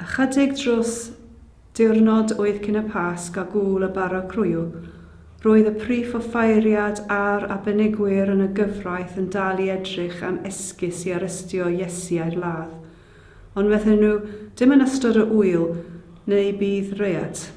Ychydig dros diwrnod oedd cyn y Pasg a gŵyl y Bara Croyw, roedd y prif offeiriad a'r arbenigwyr yn y gyfraith yn dal i edrych am esgus i arestio Iesu a'i ladd. Ond medden nhw, Dim yn ystod y ŵyl, neu bydd riot.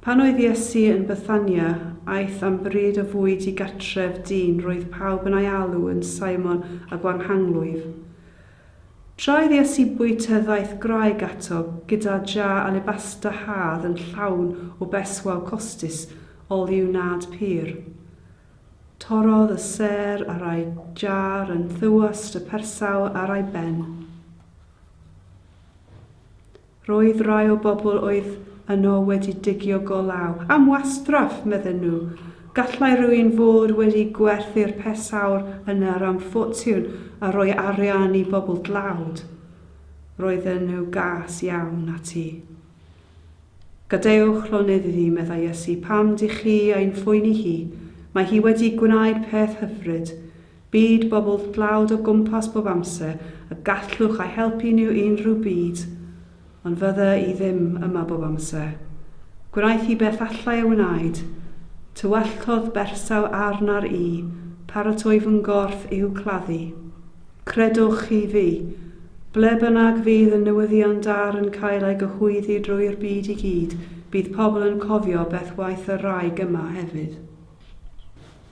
Pan oedd Iesu yn Bethania, aeth am bryd o fwyd i gartref dyn roedd pawb yn ei alw yn Simon y Gwanghanglwyf. Tra oedd Iesu'n bwyta ddaeth gwraig ato gyda jar alebasta hâdd yn llawn o berswâl costus oliw nad pur. Torrodd y sêr ar ei jar yn thywyst y persawr ar ei ben. Roedd rhai o bobl oedd yno wedi digio go law. Am wastraff, medden nhw. Gallai rywun fod wedi gwerthu'r pesawr yna am ffortiwn a rhoi arian i bobl dlawd. Roedden nhw gas iawn ati. Gadewch llonydd iddi, meddai Iesu, pam dych chi ein phoeni hi? Mae hi wedi gwneud peth hyfryd. Byd bobl dlawd o gwmpas bob amser y gallwch a'u helpu nhw unrhyw bryd, ond fydde i ddim yma bob amser. Gwnaeth hi beth allai ei wneud. Tywalltodd bersaw arna'r i paratoi fy nghorff i'w claddu. Credwch chi fi, ble bynnag fydd y newyddion da yn cael ei gyhoeddi drwy'r byd i gyd, bydd pobl yn cofio beth waeth y wraig yma hefyd.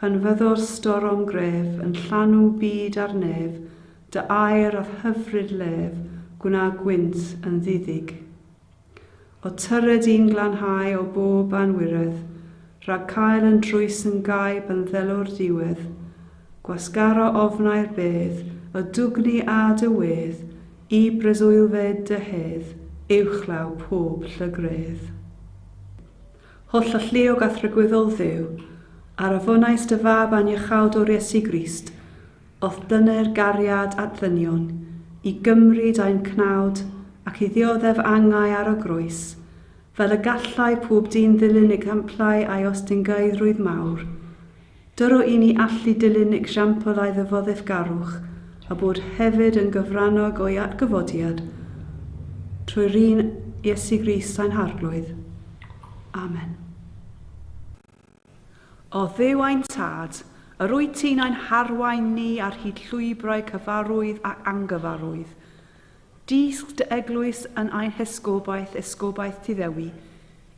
Pan fyddo'r storom gref yn llanw byd a'r nef, dy air a'th hyfryd lef gwna gwynt yn ddiddig. O tyred i'n glanhau o bob anwiredd, rhag cael yn drwys yn gaib yn ddelw'r diwedd, gwasgaro ofnau'r bedd, y dwgni a dy wedd, i breswylfed dy hedd, uwchlaw pob llygredd. Holl alluog a thragwyddol Dduw, a rafonaist dy Fab aniachawdwr Iesu Grist, o'th dyner gariad at ddynion, i gymryd ein cnawd ac i ddioddef angau ar y groes, fel y gallai pob dyn ddilyn egamplau a'i ostyngaedrwydd mawr, Dylwn i ni allu dilyn example ei ddyfoddefgarwch a bod hefyd yn gyfrannog o'i atgyfodiad trwy run Iesu Grist ein Harglwydd. Amen. O Dduw ein Tad, yr wyt ti'n ein harwain ni ar hyd llwybrau cyfarwydd ac angyfarwydd, Dysg dy eglwys yn a'i hesgobaeth, esgobaeth ti Ddewi,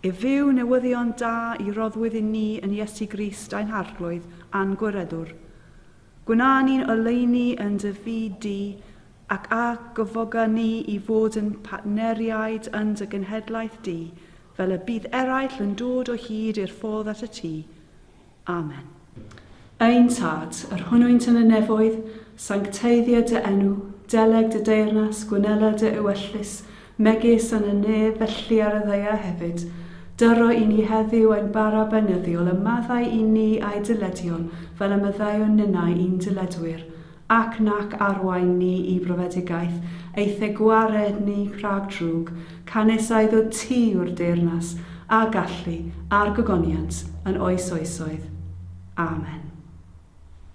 i fyw newyddion da i roddwyd i ni yn Iesu Grist ein Arglwydd a'n Gwireddwr. Gwna ni'n oleuni yn dy fyd di, ac a gyfoga ni i fod yn partneriaid yn dy genhedlaeth di, fel y bydd eraill yn dod o hyd i'r ffordd at y tŷ. Amen. Ein Tad, yr hwnnwynt yn y nefoedd, sancteiddia dy enw, deleg dy deyrnas, gwnela dy ewyllys, megis yn y nef, felly ar y ddaear hefyd. Dyro i ni heddiw ein bara beunyddiol, a maddau i ni a'i dyledion, fel y maddeuwn ninnau i'n dyledwyr. Ac nac arwain ni i brofedigaeth, eithe gwared ni rhag drwg, canys a iddo ti yw'r deyrnas, a gallu, a'r gogoniant, yn oes oesoedd. Amen.